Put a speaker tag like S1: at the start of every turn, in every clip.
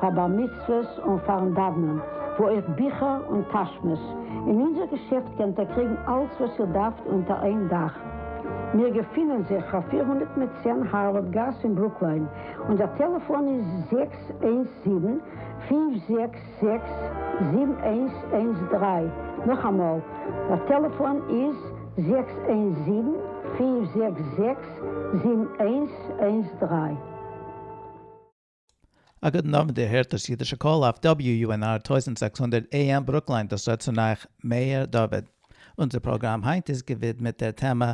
S1: פאר בר מצוות און פארן דאוונען, וואו אויך ביכער און טאשמעס, אין אונזער געשעפט קענט איר קריגן אלץ וואס איר דארפט אונטער איין דאך. מיר געפינען זיך פאר פֿיר הונדערט מיט צען הארווארד גאס אין ברוקליין, און דער טעלעפאן איז זעקס איינס זיבן, פֿינף זעקס זעקס, זיבן איינס איינס דרײַ, נאכאמאל, דער טעלעפאן איז זעקס איינס זיבן, פֿינף זעקס זעקס, זיבן איינס איינס דרײַ.
S2: א גוטן אוונט איר הערט דאס אידישע קול אויף WUNR טויזנט זעקס הונדערט AM ברוקליין דאס רעדט צון אייך מאיר דוד אונזער פראגראם היינט איז געווידמעט דער טעמע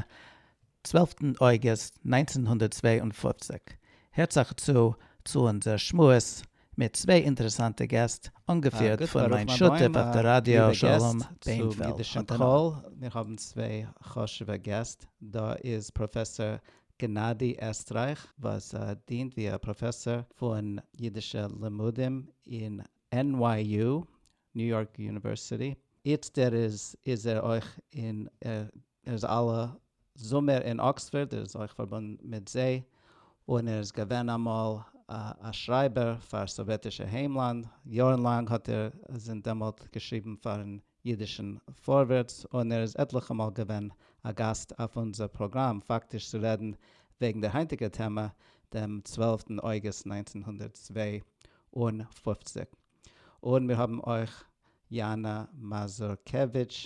S2: צוועלפטן אויגוסט נײַנצן הונדערט צוויי און פֿופֿציק הערטס אייך צו צו אונזער שמועס מיט צוויי אינטערעסאנטע געסט אנגעפירט פון מיין שותף אויף די ראדיא שלום בענפעלד האט אן מיר
S3: האבן צוויי חשובע געסט דא איז פראפעסאר גענאדי עסטרייך וואס דינט ווי א פראפעסאר פון אידישע לימודים אין NYU, ניו יארק יוניווערסיטי, איצט ער איז איז ער אויך אין ער איז אלע זומער אין אקספארד, ער איז אויך פארבונדן מיט זיי, און ער איז געווען אמאל א שרייבער פאר סאוועטישע היימלאנד, יארן לאנג האט ער זינט דעמאלט געשריבן פארן ייִדישן פֿאָרווערטס און ער איז עטלעכע מאָל געווען אַ גאַסט אויף אונדזער פּראָגראַם, פֿאַקטיש צו רעדן וועגן דער הײַנטיקער טעמע, דעם צוועלפֿטן אויגוסט נײַנצן הונדערט צוויי און פֿופֿציק. און מיר האָבן אויך יאַנאַ מאַזורקעוויטש,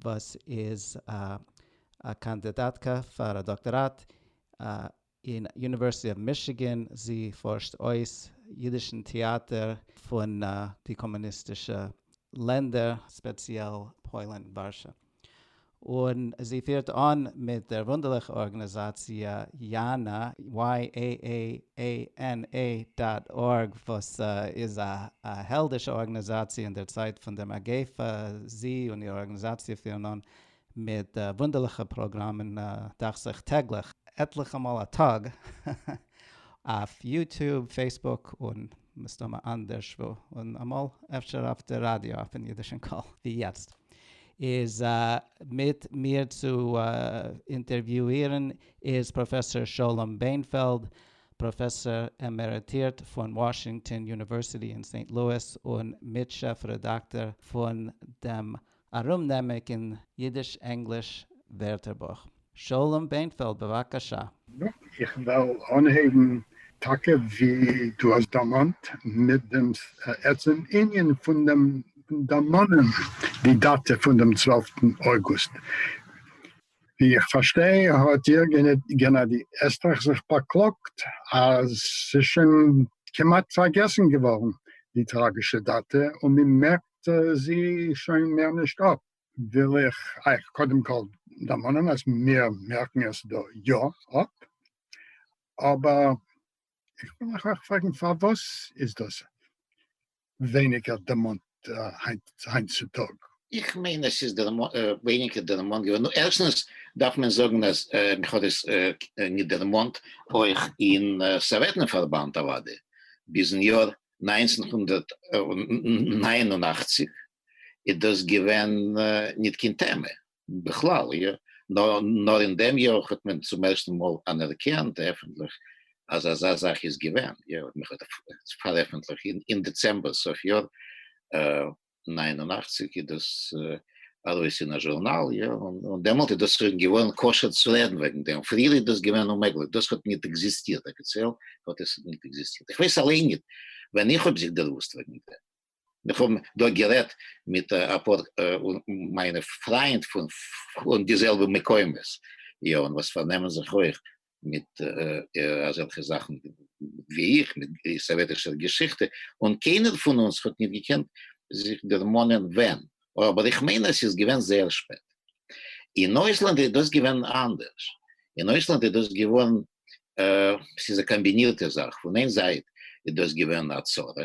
S3: וואָס איז אַ קאַנדידאַטקע פֿאַר אַ דאָקטאָראַט, אַ אין יוניווערסיטי אוו מישיגען, זי פארשט אויס אידישן טעאטער פון די קאמוניסטישע לענדער, ספעציעל פוילן, ווארשע, און זי פירט אן מיט דער וואונדערליכער ארגאניזאציע יענא, YAAANA דאט ארג, וואס איז א העלדישע ארגאניזאציע אין דער צייט פון דער מגיפה, זי און איר ארגאניזאציע פירן אן מיט וואונדערליכע פראגראמען דאכט זיך טעגליך. עטליכע מאל א טאג אויף יוטוב, פעיסבוק, און מסתמא אנדערש וואו, און אמאל אפשר אויף די ראדיא אויפן אידישן קול ווי יעצט, איז מיט מיר צו אינטערוויואירן איז פראפעסאר שלום בענפעלד, פראפעסאר עמעריטירט פון וואשינגטאן יוניווערסיטי אין סעינט לואיס און מיט-שעף רעדאקטאר פון דעם ארומנעמיק אין אידיש-ענגליש ווערטערבוך, שלום ביינפעלד בבקשה. יא, איך וועל
S4: אנהייבן טאקע ווי דו האסט דערמאנט, מיט דעם עצם ענין פון דעם דערמאנען די דאטע פון דעם צוועלפטן אוגוסט. ווי איך פארשטיי האט איר גענאדי עסטרייך זיך באקלאגט אז ס'איז שוין כמעט פארגעסן געווארן די טראגישע דאטע און מ'מערקט האלט זי שוין מער נישט אפ, וויל איך אייך קודם כל דערמאנען אז מיר מערקן עס דא יא אפ, אבער איך וויל אייך אויך פרעגן פארוואס איז דאס ווייניגער דערמאנט
S5: היינט צו טאג? איך מיין עס איז ווייניגער דערמאנט געווארן, נו ערשטנס דארף מען זאגן אז מען האט עס ניט דערמאנט אויך אין סאוועטן פארבאנד אוודאי ביזן יאר נײַנצן הונדערט נײַן און אַכציק איז דאס געווען ניט קיין טעמע בכלל, נאר אין דעם יאר האט מען צום ערשטן מאל אנערקענט עפנטליך אז אזא זאך איז געווען, מען האט עס פארעפנטליכט אין דעצעמבער סוף יאר נײַן און אַכציק איז דאס ארויס אין א זשורנאל, יא, און דעמאלט איז דאס שוין געווארן כשר צו רעדן וועגן דעם, פריער איז דאס געווען אוממעגליך, דאס האט ניט עקזיסטירט, אפיציעל האט עס ניט עקזיסטירט, איך ווייס אליין ניט ווען איך האב זיך דערוואוסט וועגן דעם, איך האב דא גערעדט מיט אפאר מיינע פריינד פון די זעלבע מקומות, יא, און וואס פארנעמען זיך אויך מיט אזעלכע זאכן ווי איך, מיט סאוועטישער געשיכטע, און קיינער פון אונז האט נישט געקענט זיך דערמאנען ווען, אבער איך מיין אז ס'איז געווען זייער שפעט. אין אויסלאנד איז דאס געווען אנדערש, אין אויסלאנד איז דאס געווען, ס'איז א קאמבינירטע זאך, פון איין זייט איז דאס געווען א צרה,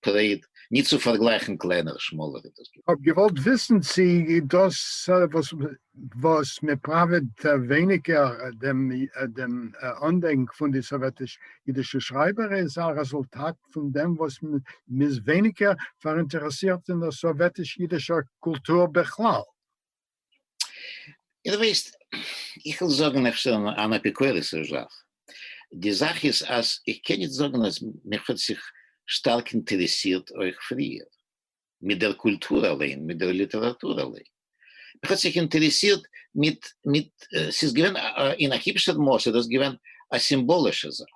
S5: טרעיד, נישט צו פארגלייכן קלענער שמאלער אינדוסטריע. כ'האב געוואלט
S4: וויסן צי דאס וואס וואס מען פראוועט ווייניגער דעם דעם אנדענק פון די סאוועטיש אידישע שרייבער איז א רעזולטאט פון דעם וואס מ'איז ווייניגער פאראינטערעסירט אין דער סאוועטיש אידישער קולטור בכלל.
S5: דו ווייסט, איך וויל זאגן איך שטעל אן אפיקורס'ישע זאך, די זאך איז אז איך קען נישט זאגן אז מיך האט זיך שטארק אינטערעסירט אויך פריער, מיט דער קולטור אליין, מיט דער ליטעראטור אליין. מיך האט זיך אינטערעסירט מיט, מיט, ס'איז געווען אין א היבשער מאס איז דאס געווען א סימבאלישע זאך,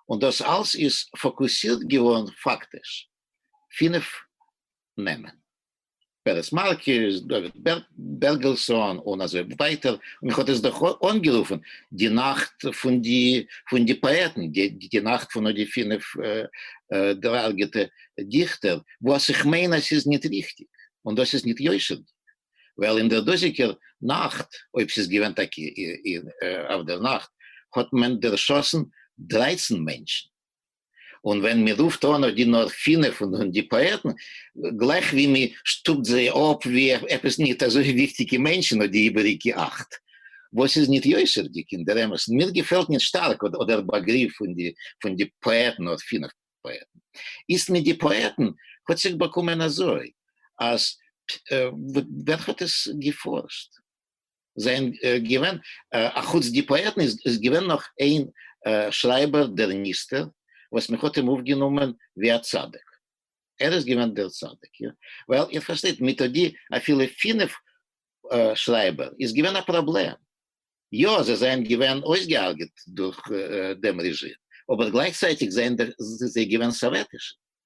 S5: און דאס אלס איז פאקוסירט געווארן פאקטיש פינף נעמען. פערעס מארקעס, דוד בערגעלסאן, און אזוי ווייטער, און איך האט עס דאך אנגערופן די נאכט פון די פון די פאעטן, די נאכט פון די פינף דערהרגעטע דיכטער, וואס איך מיין אז ס'איז ניט ריכטיק, און דאס איז ניט יושר'דיק, ווייל אין דער דאזיקער נאכט, אויב ס'איז געווען טאקע אויף דער נאכט, האט מען דערשאסן דרייצן מענטשן, און ווען מען רופט אן אויף די נאר פינף פון די פאעטן, גלייך ווי מען שטופט זיי אפ ווי עפעס ניט אזוי וויכטיגע מענטשן אויף די איבעריגע אכט, וואס איז ניט יושר'דיג אין דער אמת, און מיר געפעלט ניט שטארק אט דער באגריף פון די פון די פאעטן נאר פינף פאעטן. איצט מיט די פאעטן האט זיך באקומען אזוי, אז ווער האט עס געפארשט? זיי זענען געווען, א חוץ די פאעטן איז געווען נאך איין שרייבער דער ניסתר וואס מען האט אים אויפגענומען ווי א צדיק, ער איז געווען דער צדיק, ווייל איר פארשטייט מיט די אפילו פינף שרייבער איז געווען א פראבלעם, יא זיי זענען געווען אויסגעהארגעט דורך דעם רעזשים, אבער גלייכצייטיג זענען זיי געווען סאוועטישע.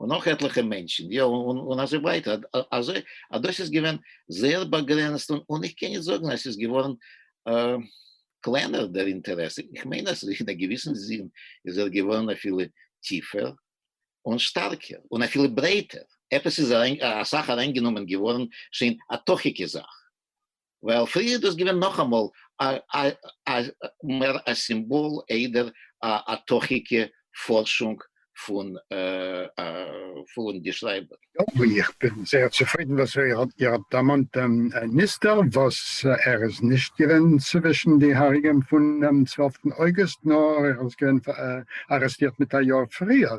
S5: און נאך עטליכע מענטשן, יא, און אזוי ווייטער, אזוי אז דאס איז געווען זייער באגרעניצט, און איך קען נישט זאגן אז ס'איז געווארן קלענער דער אינטערעס, איך מיין אז אין א געוויסן זין איז ער געווארן אפילו טיפער און שטארקער, און אפילו ברייטער, עפעס איז אסאך אריינגענומען געווארן שוין א תוכ'יגע זאך, ווייל פריער איז דאס געווען נאכאמאל א מער א סימבאל איידער א תוכי'גע פארשונג פון די שרייבער. יאפ, איך בין
S4: זייער צופרידן וואס איר האט דערמאנט דעם ניסתר, וואס ער איז נישט געווען צווישן די הרוגים פונעם צוועלפטן אוגוסט, נאר ער איז געווען ארעסטירט מיט א יאר פריער,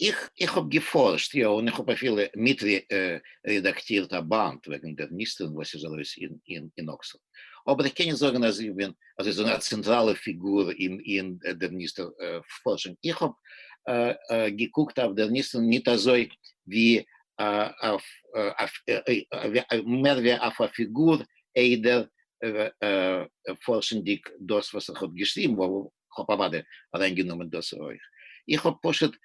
S4: איך איך האב
S5: געפארשט יא און איך האב אפילו מיט רעדאקטירט א באנד וועגן דער ניסטערן וואס איז ארויס אין אקספארד אבער איך קען נישט זאגן אז איך בין אזוי זאגן א צענטראלע פיגור אין אין דער ניסטער פארשונג איך האב געקוקט אויף דער ניסטערן ניט אזוי ווי אויף מער ווי אויף א פיגור איידער פארשנדיג דאס וואס איך האב געשריבן כ'האב אוודאי אריין גענומען דאס אויך, איך האב פשוט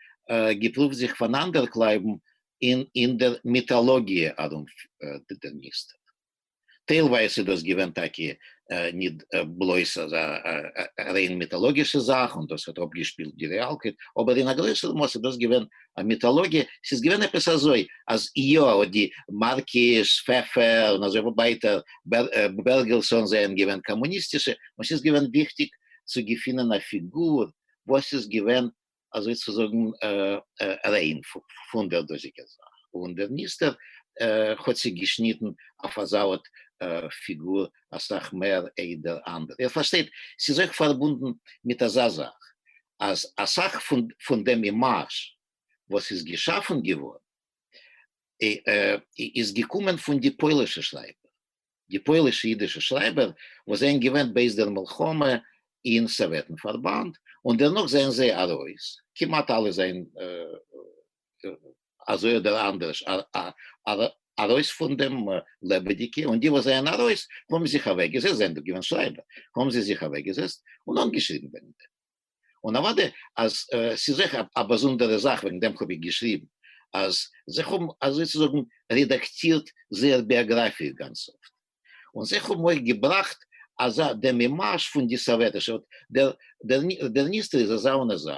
S5: געפרובט זיך פאנאנדערקלייבן אין דער מיטאלאגיע ארום דעם מיסטער, טיילווייז איז דאס געווען טאקע ניט בלויז א ריין מיטאלאגישע זאך און דאס האט אפגעשפילט די רעאלקייט, אבער אין א גרויסער מאס איז דאס געווען א מיטאלאגיע, ס'איז געווען עפעס אזוי אז יא אט די מארקיש, פעפער און אזוי ווייטער, בערגעלסאן זיי האבן געווען קאמוניסטישע און ס'איז געווען וויכטיג צו געפינען א פיגור וואס איז געווען אזוי צו זאגן ריין פון דער דאזיגער זאך, און דער ניסתר האט זיך געשניטן אויף אזא ארט פיגור אסאך מער איידער אנדערע. איר פארשטייט? ס'איז אויך פארבונדן מיט אזא זאך אז אסאך פון דעם אימאזש וואס איז געשאפן געווארן איז געקומען פון די פוילישע שרייבער, די פוילישע אידישע שרייבער וואס זענען געווען בעת דער מלחמה אין סאוועטן פארבאנד, און דערנאך זענען זיי ארויס, כמעט אלע זענען אזוי אדער אנדערש ארויס פון דעם, לעבעדיגע, און די וואס זענען ארויס האבן זיך אוועקגעזעצט, זענען דאך געווען שרייבער, האבן זיי זיך אוועקגעזעצט און אנגעשריבן וועגן דעם. און אוודאי אז ס'איז אויך א באזונדערע זאך וועגן דעם האב איך געשריבן אז זיי האבן אזוי צו זאגן רעדאקטירט זייער ביאגראפיע גאנץ אפט, און זיי האבן אויך געבראכט אזא דעם מימאש פון די סאוועטישע אט דער ניסטער איז אזא און אזא,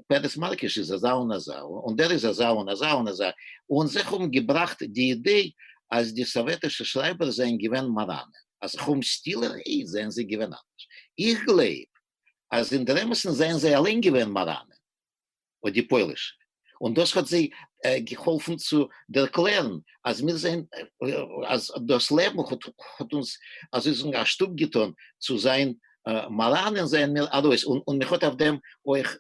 S5: פרס מלקוש איז אזא און אזא, און דער איז אזא און אזא און אזא, און זיי האבן געבראכט די אידעי אז די סאוועטישע שרייבערס זענען געווען מאראנען, אז חוהמ סטילער איד זענען זיי געווען אנדערש. איך גלייב אז אינדערעמעסן זענען זיי אליין געווען מאראנען אוי די פוילישע און דאס האט זיי געהאלפן צו ערקלערן אז מיר זענען אז דאס לעבן האט אונז אזוי זאגן א שטופ געטאן צו זיין מאראנען זענען מיר ארויס און מען האט אויף דעם אויך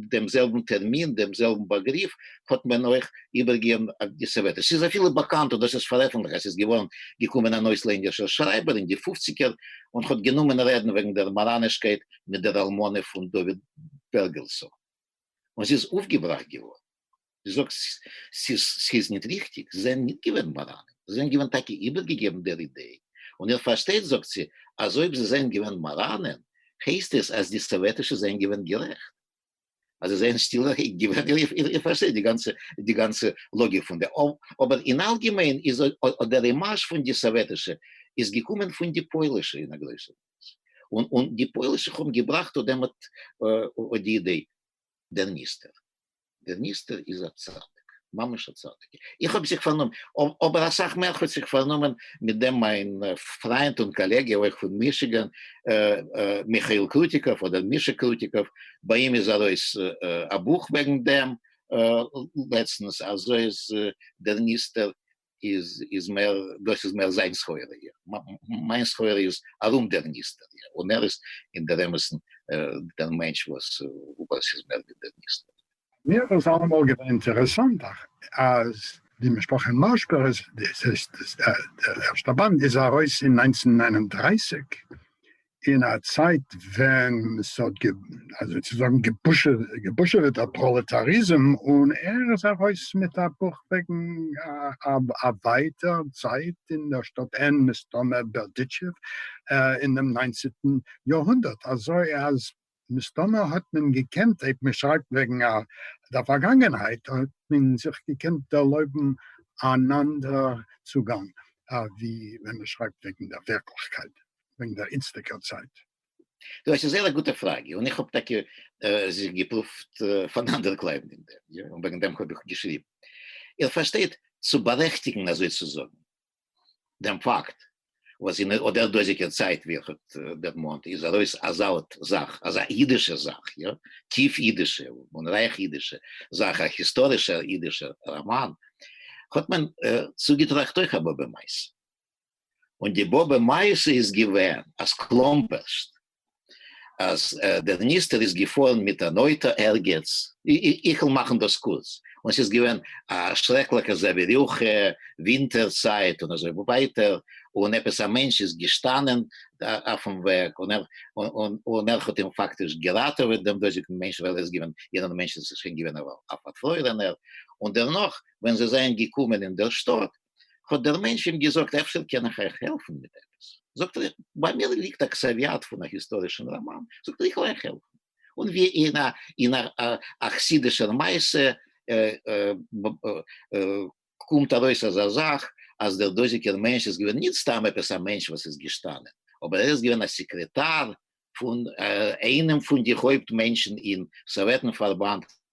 S5: דעם זעלבן טערמין, דעם זעלבן באגריף, האט מען אויך איבערגעגעבן א געסעוועטער. ס'איז אפילו באקאנט און דאס איז פארעפנטליכט אז ס'איז געווארן געקומען אן אויסלענדישער שרייבער אין די פופציגער און האט גענומען רעדן וועגן דער מאראנישקייט מיט דער אלמנה פון דוד בערגעלסאן, און זי איז אויפגעבראכט געווארן. זי זאגט ס'איז ניט ריכטיק, זיי זענען ניט געווען מאראנען, זיי זענען געווען טאקע איבערגעגעבן דער אידעי, און איר פארשטייט, זאגט זי, אז אויב זיי זענען געווען מאראנען, הייסט עס אז די סאוועטישע זענען געווען גערעכט, אז זיי זענען שטילערהייט געווען, איר פארשטייט די גאנצע לאגיק פון דעם, אבער אין אלגעמיין איז אט דער אימאזש פון די סאוועטישע איז געקומען פון די פוילישע אין א גרויסער מאס, און די פוילישע האבן געבראכט אט דעם אט די אידעי. דער ניסתר, דער ניסתר איז א צדיק, ממש א צדיק, איך האב זיך פארנומען, אבער אסאך מער האט זיך פארנומען מיט דעם מיין פריינט און קאלעגע אויך פון מישיגען, מיכאיל קרוטיקוב אדער מישא קרוטיקוב, ביי אים איז ארויס א בוך וועגן דעם לעצטנס, אזוי איז דער ניסתר איז איז מער דאס איז מער זיין סחורה איר מיין סחורה איז ארום דער ניסתר איר און ער איז אין דער אמת'ן דער מענטש וואס וואס איז מער ווי דער ניסתר. מיר איז
S4: אלעמאל געווען אינטערעסאנט אז די משפחה מאשבערס דאס הייסט דער ערשטער באנד איז ארויס אין נײַנצן נײַן און דרײַסיק אין א צייט ווען ס'האט אזוי צו זאגן געבושעוועט א פראלעטאריזם, און ער איז ארויס מיט א בוך וועגן א ווייטער צייט אין דער שטאט ען, מסתמא בערדיטשעוו, אין דעם ניינצענטן יארהונדערט, אזוי אז מסתמא האט מען געקענט, אויב מען שרייבט וועגן דער פארגאנגענהייט, האט מען זיך געקענט ערלויבן אן אנדערע צוגאנג ווי ווען מען שרייבט וועגן דער ווירקליכקייט, וועגן דער איצטיגער צייט. דאס איז
S5: זייער א גוטע פראגע, און איך האב טאקע זיך געפרואווט פארנאנדערקלייבן אין דעם, און וועגן דעם האב איך געשריבן. איר פארשטייט, צו בארעכטיגן, אזוי צו זאגן. דעם פאקט וואס אין אט דער דאזיגער צייט ווי איך האט דערמאנט איז ארויס אזא אט זאך, אזא אידישע זאך, יא, טיף אידישע און רייך אידישע זאך, א היסטארישער אידישער ראמאן, האט מען צוגעטראכט אויך א באבע מעשה. און די באבע מעשה איז געווען אז קלאמפערשט אז דער ניסתר איז געפארן מיט אן אויטא ערגעץ, איך וועל מאכן דאס קורץ, און ס'איז געווען א שרעקליכע זעווירוכע, ווינטער צייט און אזוי ווייטער, און עפעס א מענטש איז געשטאנען אויפן וועג און ער האט אים פאקטיש געראטעוועט דעם דאזיגן מענטש, ווייל ער איז געווען יענער מענטש איז שוין געווען א פארפרוירענער, און דערנאך ווען זיי זענען געקומען אין דער שטאט האט דער מענטש אים געזאגט, אפשר קען איך אייך העלפן מיט עפעס? זאגט ער, ביי מיר ליגט א קסעוויאט פון א היסטארישן ראמאן, זאגט ער, איך וועל אייך העלפן. און ווי אין א אין א חסידישער מעשה קומט ארויס אזא זאך, אז דער דאזיגער מענטש איז געווען נישט סתם עפעס א מענטש וואס איז געשטאנען, אבער ער איז געווען א סעקרעטאר פון איינעם פון די הויפט מענטשן אין סאוועטן פארבאנד,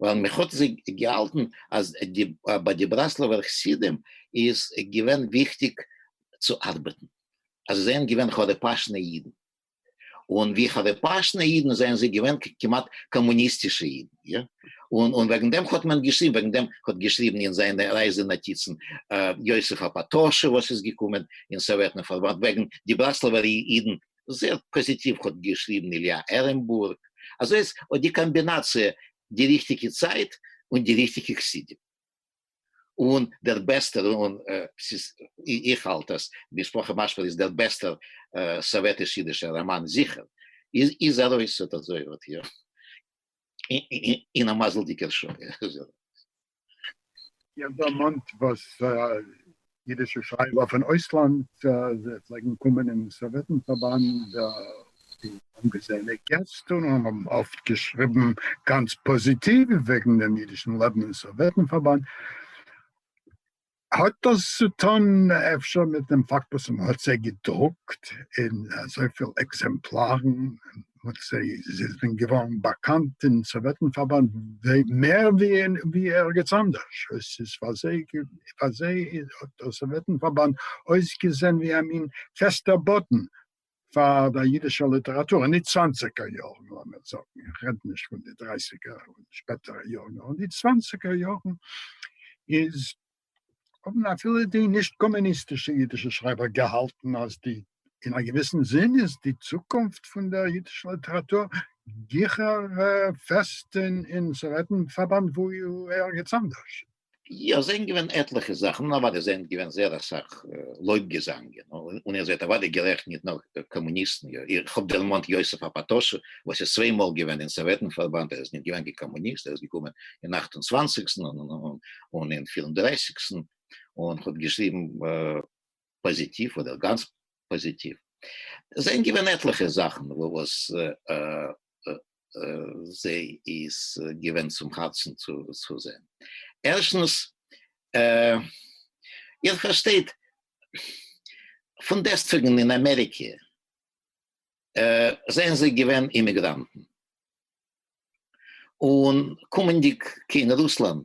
S5: ווייל מען האט זיי געהאלטן אז ביי די בראסלעווער חסידים איז געווען וויכטיג צו ארבעטן, אז זיי זענען געווען חרפאשנע אידן, און ווי חרפאשנע אידן זענען זיי געווען כמעט קאמוניסטישע אידן, יא, און וועגן דעם האט מען געשריבן, וועגן דעם האט געשריבן אין זיינע רייזע נאטיצן יוסף הפאטאשער וואס איז געקומען אין סאוועטן פארבאנד וועגן די בראסלעווער אידן זעהט פאזיטיוו האט געשריבן, איליא ערענבורג, אזוי אז האט די קאמבינאציע די ריכטיגע צייט און די ריכטיגע חסידים און דער בעסטער און ס'איז איך האלט אז משפחה מאשבער איז דער בעסטער סאוועטיש אידישער ראמאן זיכער איז ארויס אט אזוי האט איר אין א מזל'דיגער שעה.
S4: איך האב דערמאנט וואס אידישע שרייבער פון אויסלאנד פלעגן קומען אין סאוועטן פארבאנד, די אנגעזעענע געסט, און האבן אפט געשריבן גאנץ פאזיטיוו וועגן דעם אידישן לעבן אין סאוועטן פארבאנד. האט דאס צו טון אפשר מיט דעם פאקט וואס מען האט זיי געדרוקט אין אזויפיל עקזעמפלארן, און זי איז ווען געווארן באקאנט אין סאוועטן פארבאנד מער ווי ערגעץ אנדערש, עס איז פאר זיי האט דער סאוועטן פארבאנד אויסגעזען ווי א מין פעסטער באדן פאר דער אידישער ליטעראטור, אין די צוואנציגער יארן לאמיר זאגן, איך רעד נישט פון די דרייסיגער און שפעטערע יארן, נאר אין די צוואנציגער יארן איז האבן אפילו די נישט קאמוניסטישע אידישע שרייבער געהאלטן אז די, אין א געוויסן זין, איז די צוקונפט פון דער אידישער ליטעראטור גיכער פעסט אין סאוועטן פארבאנד ווי ערגעץ אנדערש. יא ס'זענען
S5: געווען עטליכע זאכן, און אוודאי ס'זענען געווען זייער אסאך לויב געזאנגען, און איר זענט אוודאי גערעכט נישט נאר קאמוניסטן, איך האב דערמאנט יוסף הפאטאשער וואס איז צוויי מאל געווען אין סאוועטן פארבאנד, ער איז נישט געווען קיין קאמוניסט, ער איז געקומען אין אכט און צוואנציגסטן און אין פיר און דרייסיגסטן, און כ'האב געשריבן. פאזיטיוו אדער גאנץ פאזיטיוו, עס זענען געווען עטליכע זאכן וואס זיי איז געווען צום הארצן צו זען, ערשטנס איר פארשטייט פון דעסטוועגן אין אמעריקע זענען זיי געווען אימיגראנטן, און קומענדיג קיין רוסלאנד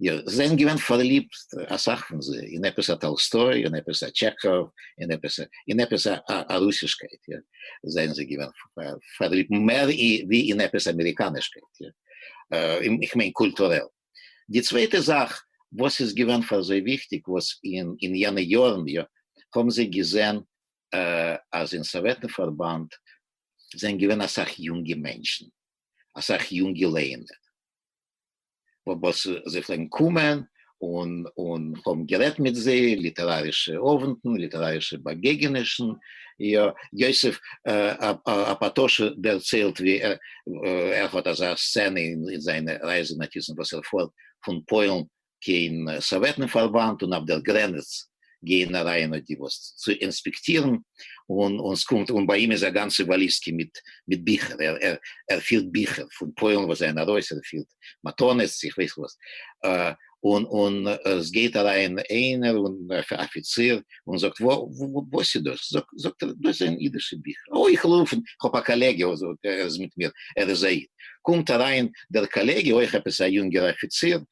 S5: יא, זיי זענען געווען פארליבט אסאך פון זיי אין עפעס א טאלסטוי, אין עפעס א טשעכאוו, אין עפעס א, אין עפעס א א רוסישקייט, יא, זענען זיי געווען פארליבט מער ווי אין עפעס אמעריקאנישקייט, יא, איך מיין קולטורעל. די צווייטע זאך וואס איז געווען פאר זיי וויכטיג וואס אין אין יענע יארן, יא, האבן זיי געזען אז אין סאוועטן פארבאנד זענען געווען אסאך יונגע מענטשן, אסאך יונגע לערנער, וואס זיי פלעגן קומען און און האבן גערעדט מיט זיי, ליטערארישע אווענטן, ליטערארישע באגעגענישן, יא, יוסף הפאטאשער דערציילט ווי ער האט אזא סצענע אין זיינע רייזענאטיזן וואס ער פארט פון פוילן קיין סאוועטן פארבאנד און אויף דער גרענעץ גייען אריין אט די וואס צו אינספעקטירן און און סקומט און ביי אים איז א גאנצע וואליסקע מיט מיט ביכער ער ער ער פירט ביכער פון פוילן וואס זענען ארויס ער פירט מתנות איך ווייס וואס און און סגייט אריין איינער און אפיציר און זאגט וואס איז דאס זאגט ער דאס זענען אידישע ביכער אוי איך רוף און כ'האב א קאלעגע ער איז מיט מיר ער איז א איד קומט אריין דער קאלעגע אויך עפעס א יונגער אפיציר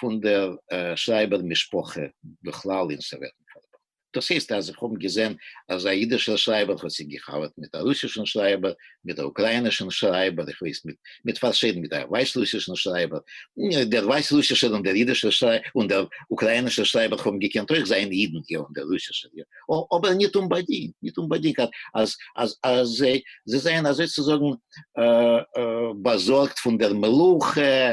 S5: פון דער שרייבער משפחה בכלל אין סאוועטן פארבאנד. דאס הייסט אז איך האב געזען אז א אידישער שרייבער האט זיך גע'חבר'ט מיט א רוסישן שרייבער, מיט א אוקראינישן שרייבער, איך ווייס מיט מיט פארשיידן מיט א ווייסרוסישן שרייבער, דער ווייסרוסישער און דער אידישער שרייבער און דער אוקראינישער שרייבער האבן געקענט אויך זיין אידן, יא, און דער רוסישער יא, אבער ניט אומבאדינגט, ניט אומבאדינגט אז אז אז אז זיי זיי זענען אזוי צו זאגן באזארגט פון דער מלוכה,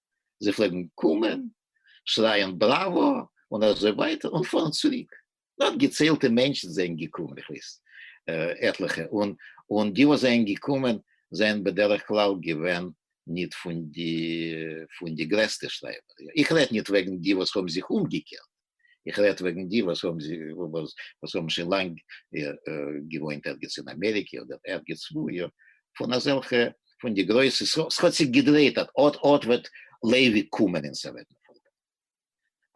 S5: זיי פלעגן קומען, שרייען בראווא און אזוי ווייטער און פארן צוריק, נאר געציילטע מענטשן זענען געקומען, איך ווייס עטליכע, און און די וואס זענען געקומען זענען בדרך כלל געווען ניט פון די פון די גרעסטע שרייבער, איך רעד ניט וועגן די וואס האבן זיך אומגעקערט, איך רעדט וועגן די וואס האבן זיך וואס האבן שוין לאנג געוואוינט ערגעץ אין אמעריקע אדער ערגעץ וואו יא, פון אזעלכע פון די גרויסע ס'האט זיך געדרייט אט אט אט וועט לייבי קומען אין ס'וועט מען פארבעטן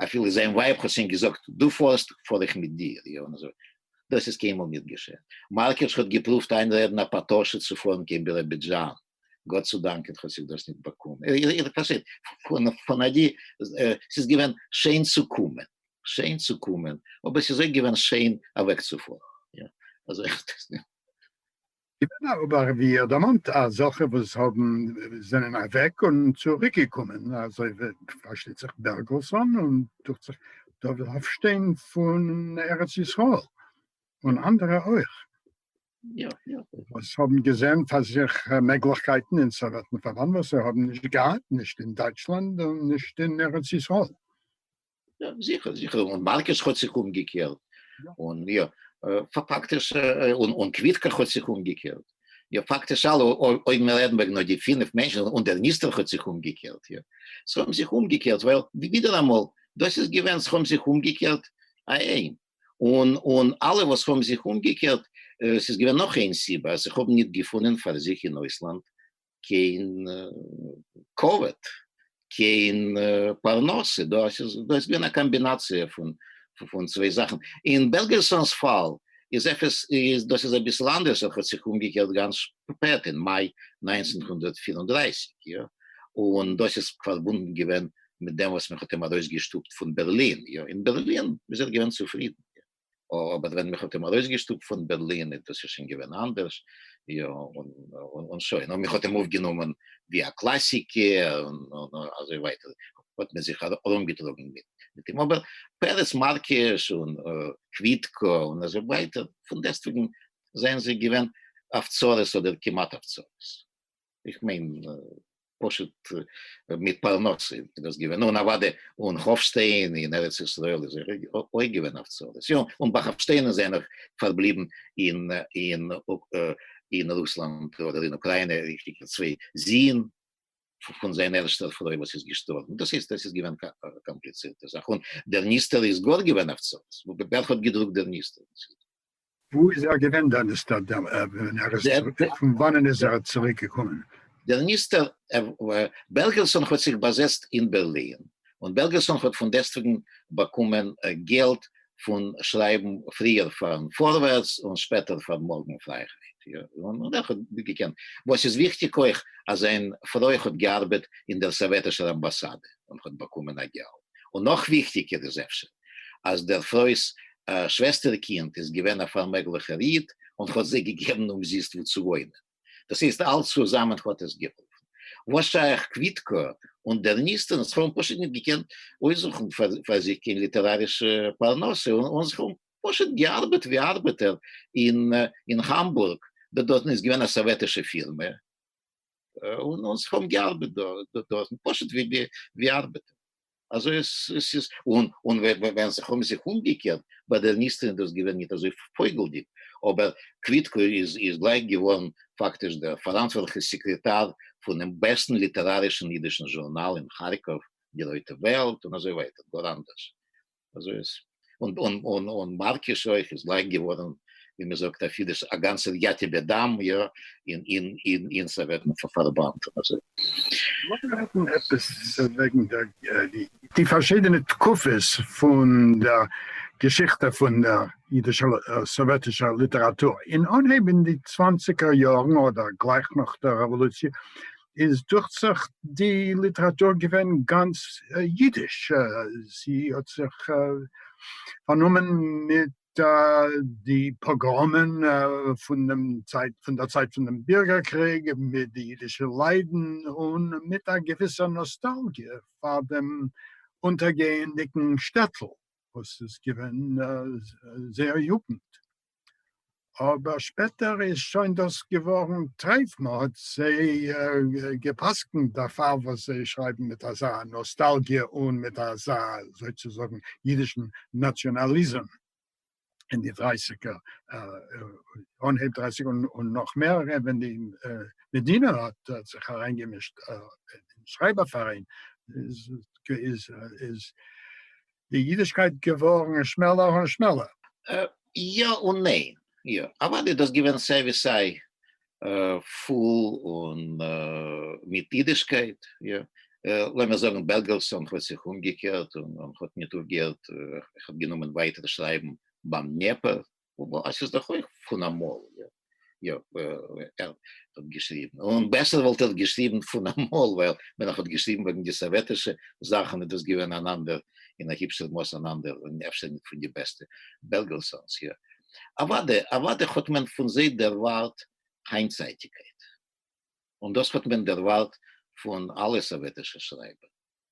S5: אפילו זיין ווייב האט שוין געזאגט דו פארסט פאר איך מיט דיר יא און אזוי דאס איז קיינמאל ניט געשען מארקערטש האט געפרואווט איינרעדן א פאטאשע צו פארן קיין ביראבידזשאן גאט צו דאנקען האט זיך דאס ניט באקומען, איר פארשטייט, פון אדי ס'איז געווען שיין צו קומען, שיין צו קומען, אבער ס'איז אויך געווען שיין אוועקצופארן, אזוי. געווען א
S4: אבער ווי איר דערמאנט אזעלכע וואס האבן זענען אוועק און צוריקגעקומען, אזוי ווי פארשטייט זיך בערגעלסאן און דוכט זיך דוד האפשטיין פון ארץ ישראל און אנדערע אויך.
S5: יא יא. וואס
S4: האבן געזען פאר זיך מעגליכקייטן אין סאוועטן פארבאנד וואס זיי האבן נישט געהאט נישט אין דייטשלאנד און נישט אין ארץ ישראל. יא
S5: זיכער זיכער און מארקעס האט זיך אומגעקערט און יא פאקטיש און און קוויטקא האט זיך אומגעקערט יא פאקטיש אלע אויב מיר רעדן וועגן נאר די פינף מענטשן און דער ניסתר האט זיך אומגעקערט יא זיי האבן זיך אומגעקערט ווייל ווידעראמאל דאס איז געווען זיי האבן זיך אומגעקערט א ע. און און אלע וואס האבן זיך אומגעקערט, ס'איז געווען נאך איין סיבה, אז איך האב ניט געפונען פאר זיך אין אויסלאנד קיין כבוד, קיין פרנסה, דא איז געווען א קאמבינאציע פון פון צוויי זאכן. אין בעלגערסאן'ס פאל איז עפעס איז דאס איז אביסל אנדערש, ער האט זיך אומגעקערט גאנץ שפעט, אין מאי נײַנצן הונדערט פֿיר און דרײַסיק, יא, און דאס איז פארבונדן געווען מיט דעם וואס מען האט אים ארויס געשטופט פון בערלין, יא אין בערלין איז ער געווען צופרידן, אבער ווען מען האט אים ארויס געשטופט פון בערלין איז דאס שוין געווען אנדערש, יא און שוין, און מען האט אים אויפגענומען ווי א קלאסיקער און אזוי ווייטער, האט מען זיך ארום געטראגן מיט אים, אבער פרס מארקיש און קוויטקא און אזוי ווייטער פון דעסטוועגן זענען זיי געווען אויף צרות אדער כמעט אויף צרות. איך מיין פשוט מיט פרנסה איז דאס געווען, און אוואדע אן האפשטיין אין ארץ ישראל איז ער אויך געווען אויף צרות, יא און ביי האפשטיין איז ענער פארבליבן אין רוסלאנד אדער אין אוקריינע, און צוויי זין פון זיין ערשטער פרוי וואס איז געשטארבן, דאס הייסט עס איז געווען קאמפליצירטע זאך, און דער ניסתר איז גאר געווען אויף צרות, ווער האט געדרוקט דער ניסתר? וואו
S4: איז ער געווען דער נסתר ווען ער איז צוריק, פון וואנען איז ער צוריק געקומען? דער נסתר,
S5: בעלגערסאן האט זיך באזעצט אין בערלין, און בעלגערסאן האט פון דעסטוועגן באקומען געלט פון שרייבן פריער פארן פארווערטס און שפעטער פאר מארגן פרייהייט, און ער האט געקענט, וואס איז וויכטיג אויך, אז זיין פרוי האט געארבעט אין דער סאוועטישער אמבאסאדע און האט באקומען א געלט, און נאך וויכטיגער איז אפשר. אז דער פרוי'ס שוועסטער קינד איז געווען א פארמעגליכער איד און האט זיי געגעבן אומזיסט וואו צו וואוינען. דאס הייסט אלץ צוזאמען האט עס געהאלפן. וואס שייך קוויטקא און דערניסטענס האבן פשוט נישט געקענט אויסזוכן פאר זיך קיין ליטערארישע פרנסה און זיך האבן פשוט געארבעט ווי ארבעטער אין האמבורג, דארטן איז געווען א סאוועטישע פירמע און זיך האבן געארבעט דארטן פשוט ווי ארבעטער. אזוי עס איז און און ווען זיך האבן זיך אומגעקערט ביי דער ניסתר איז דאס געווען ניט אזוי פויגלדיק אבער קוויטקא איז איז גלייך געווארן פאקטיש דער פאראנטווארטליכער סעקרעטאר פונעם בעסטן ליטערארישן אידישן זשורנאל אין כארקאוו די רויטע וועלט און אזוי ווייטער גאר אנדערש אזוי עס און און און און מארקיס אויך איז לייק געווארן ווי מען זאגט אפי' דאס א גאנצע יתיב אדם יא אין אין אין אין סאוועטן פארבאנד און אזוי. לאמיר
S4: רעדן עפעס וועגן די פארשידענע תקופות פון דער געשיכטע פון דער אידישער סאוועטישער ליטעראטור. אין אנהייב אין די צוואנציגער יארן אדער גלייך נאך דער רעוואלוציע איז דוכט זיך די ליטעראטור געווען גאנץ אידיש, זי האט זיך פארנומען מיט די פאגראמען פון דעם צייט, פון דער צייט פונעם בירגער קריג, מיט די אידישע ליידן, און מיט א געוויסע נאסטאלגיע פאר דעם אונטערגייענדיגן שטעטל וואס איז געווען זייער יוגנט. אבער שפעטער איז שוין דאס געווארן טרייף, מען האט זיי גע'פסק'נט דערפאר וואס זיי שרייבן מיט אזא נאסטאלגיע און מיט אזא זוי צו זאגן אידישן נאציאנאליזם אין די דרייסיגער, אנהייב דרייסיגער און נאך מער ווען די מדינה האט זיך אריינגעמישט אין שרייבער פאראיין איז. די אידישקייט געווארן שמעלער און שמעלער? יא
S5: און ניין. יא, אוודאי דאס געווען סיי ווי סיי פול און מיט אידישקייט, יא, לאמיר זאגן בעלגעלסאן האט זיך אומגעקערט און האט ניט אויפגעהערט, ער האט גענומען ווייטער שרייבן ביים דניעפער, עס איז דאך אויך פון אמאל, יא יא ער האט געשריבן, און בעסער וואלט ער געשריבן פון אמאל, ווייל ווען ער האט געשריבן וועגן די סאוועטישע זאכן איז דאס געווען אן אנדער, אין א היבשער מאס אן אנדער, און אפשר נישט פון די בעסטע, בערגעלסאנס, יא. אוודאי, אוודאי האט מען פון זיי דערווארט היינטצייטיקייט, און דאס האט מען דערווארט פון אלע סאוועטישע שרייבער,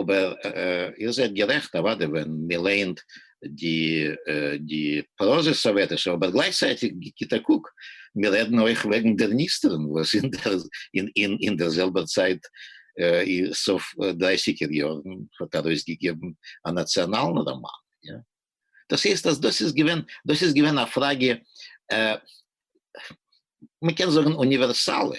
S5: אבער איר זענט גערעכט אוודאי ווען מען לייענט די די פראזע סאוועטישע אבער גלייכצייטיג גיבט א קוק מיר רעדן אויך וועגן דער ניסטערן וואס אין דער זעלבער צייט אין סוף דרייסיגער יארן האט ארויסגעגעבן א נאציאנאלן ראמאן יא דאס הייסט אז דאס איז געווען דאס איז געווען א פראגע מען קען זאגן אוניווערסאלע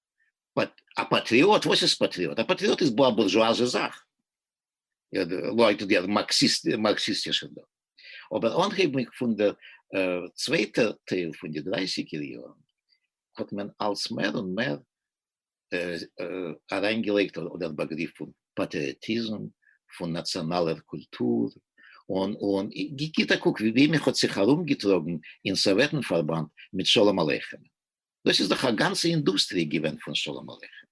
S5: באט א פאטריאט? וואס איז פאטריאט? א פאטריאט איז א בורזשואזע זאך, לויט די מארקסיסטישע דא. אבער אנהייבנדיג פון דער צווייטע טייל פון די דרייסיגער יארן האט מען אלס מער און מער אריינגעלייגט אדער באגריף פון פאטריאטיזם, פון נאציאנאלער קולטור, און גיט א קוק ווי מען האט זיך ארומגעטראגן אין סאוועטן פארבאנד מיט שלום עליכם. דאס איז דאך א גאנצע אינדוסטריע געווען פון שלום עליכם,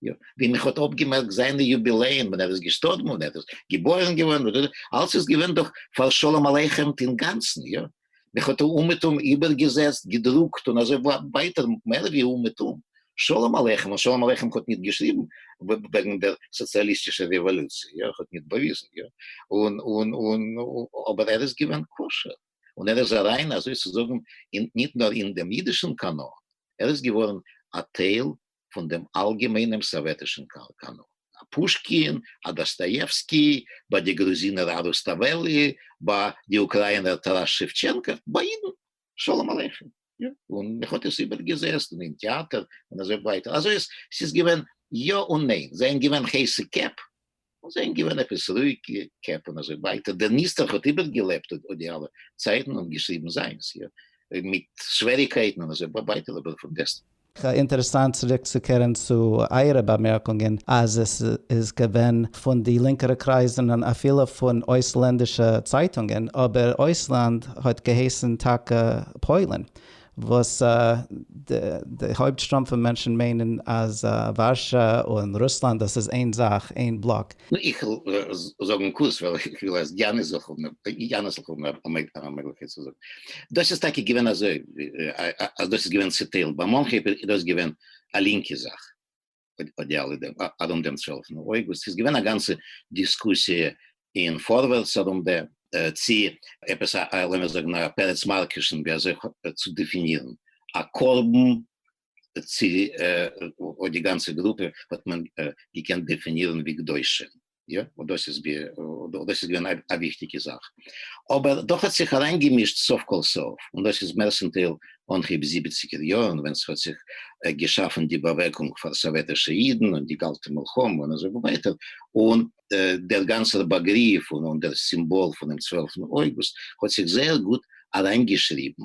S5: יא, ווי מען האט אפגעמערקט זיינע יוביליען ווען ער איז געשטארבן און ער איז געבוירן געווארן, אלס איז געווען דאך פאר שלום עליכם'ט אינגאנצן, יא, מען האט אומעטום איבערגעזעצט, געדרוקט און אזוי ווייטער מער ווי אומעטום שלום עליכם, און שלום עליכם האט ניט געשריבן וועגן דער סאציאליסטישער רעוואלוציע, יא, האט ניט באוויזן, יא, און, און, און, אבער ער איז געווען כשר. און ער איז אריין אזוי צו זאגן אין ניט נאר אין דעם יידישן קאנאן, ער איז געווארן א טייל פון דעם אלגעמיינעם סאוועטישן קאנאן, א פושקין, א דאסטאיעווסקי, ביי די גרוזינער א רוסטאוועלי, ביי די אוקראינער טאראס שעווטשענקא, ביי יידן שלום עליכם. יא, און מען האט עס איבערגעזעצט און אין טעאטער און אזוי ווייטער, אזוי אז ס'איז געווען יא און ניין, זיי זענען געווען הייסע קעפ, און זיי זענען געווען עפעס רואיגע קעפ און אזוי ווייטער, דער ניסתר האט איבערגעלעבט אט די אלע צייטן און געשריבן זיינס, יא, מיט שוועריקייטן און אזוי ווייטער, אבער פון דעסטוועגן. אינטערעסאנט
S3: צוריקצוקערן צו אייערע באמערקונגען אז עס איז געווען פון די לינקערע קרייזן און אפילו פון אויסלענדישע צייטונגען, אבער אויסלאנד האט געהייסן טאקע פוילן, וואס די הויפט שטראם פון מענטשן מיינען אז ווארשא און רוסלאנד דאס איז איין זאך, איין בלאק. איך וועל
S5: זאגן קורץ ווייל איך וויל אז יאנעס זאל האבן א מעגליכקייט צו זאגן. דאס איז טאקע געווען אזוי אז דאס איז געווען צעטיילט, ביי מאנכע איז דאס געווען א לינקע זאך, ארום דעם צוועלפן אוגוסט, ס'איז געווען א גאנצע דיסקוסיע אין פארווערטס ארום דעם, צי עפעס א, לאמיר זאגן א פרץ מארקעשן, ווי אזוי צו דעפינירן א קרבן צי אויף די גאנצע גרופע האט מען געקענט דעפינירן ווי קדושים, יא? און דאס איז געווען א וויכטיגע זאך. אבער דאך האט זיך אריינגעמישט סוף כל סוף, און דאס איז מערסטנטייל אנהייב זיבעציגער יארן ווען ס'האט זיך געשאפן די באוועגונג פאר סאוועטישע אידן און די קאלטע מלחמה און אזוי ווייטער, און דער גאנצער באגריף און דער סימבאל פונעם צוועלפטן אויגוסט האט זיך זייער גוט אריינגעשריבן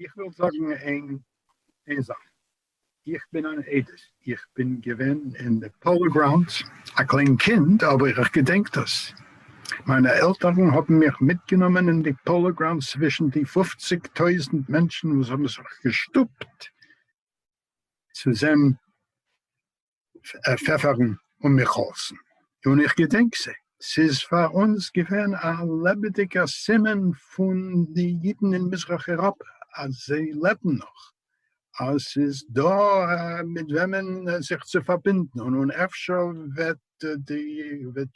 S5: איך
S4: וויל זאגן איין איין זאך, איך בין אן עדות, איך בין געווען אין די פאלא גראונדס א קליין קינד, אבער איך געדענק דאס, מיינע עלטערן האבן מיך מיטגענומען אין די פאלא גראונדס צווישן די פופציג טויזנט מענטשן וואס האבן זיך געשטופט צו זען פעפערן און מיך האלזן, און איך געדענק זיי. ס'איז פאר אונז געווען א לעבעדיגער סימן פון די אידן אין מזרח אייראפע אז זיי לעבן נאך, אז ס'איז דא מיט וועמען זיך צו פארבינדן, און אפשר וועט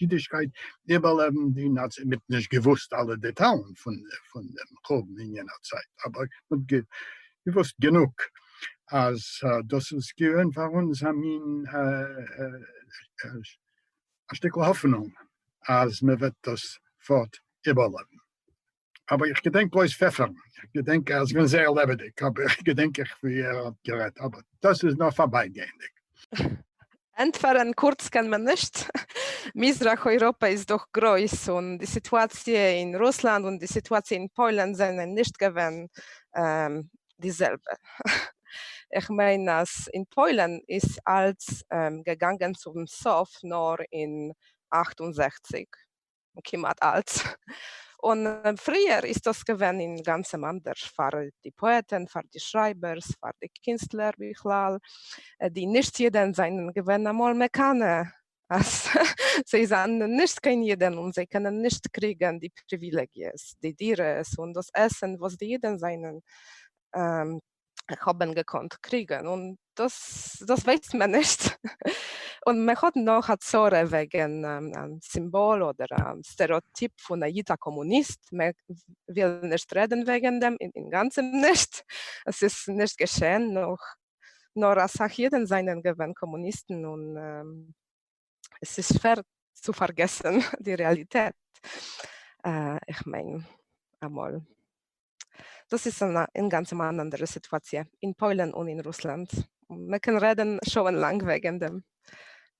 S4: אידישקייט איבערלעבן די נאצי. מען האט נישט געוואוסט אלע דעטאלן פון דעם חורבן אין יענער צייט, אבער מען האט געוואוסט גענוג אז דאס איז געווען פאר אונז א מין א שטיקל האפענונג אז מען וועט דאס פארט איבערלעבן. אבער איך געדענק בלויז פעפערן, איך געדענק אז ער איז געווען זייער לעבעדיג, אבער איך געדענק איך ווי ער האט גערעדט, אבער דאס איז נאר פארבייגייענדיג.
S6: ענטפערן קורץ קען מען נישט. מזרח אויראפע איז דאך גרויס און די סיטואציע אין רוסלאנד און די סיטואציע אין פוילן זענען נישט געווען די זעלבע. איך מיין אז אין פוילן איז אלץ געגאנגען צום סוף נאר אין אַכט און זעכציק. כמעט אלץ, און פריער איז דאס געווען אינגאנצען אנדערש פאר די פאעטען, פאר די שרייבערס, פאר די קינסטלער בכלל, די נישט יודען זענען געווען אמאל מקנא אז זיי זענען נישט קיין יודען און זיי קענען נישט קריגען די פריווילעגיעס, די דירות און דאס עסען וואס די יודען זענען איך האב אים געקאנט קריגן און דאס דאס ווייסט מען נישט און מען האט נאך א צרה וועגן א סימבאל אדער א סטערעאטיפ פון א איד א קאמוניסט מען וויל נישט רעדן וועגן דעם אינגאנצן נישט עס איז נישט געשען נאך נאר אסאך אידן זענען געווען קאמוניסטן און עס איז שווער צו פארגעסן די רעאליטעט, איך מיין אמאל. דאס איז אינגאנצען אן אנדערע סיטואציע אין פוילן און אין רוסלאנד, מען קען רעדן שעה-און לאנג וועגן דעם,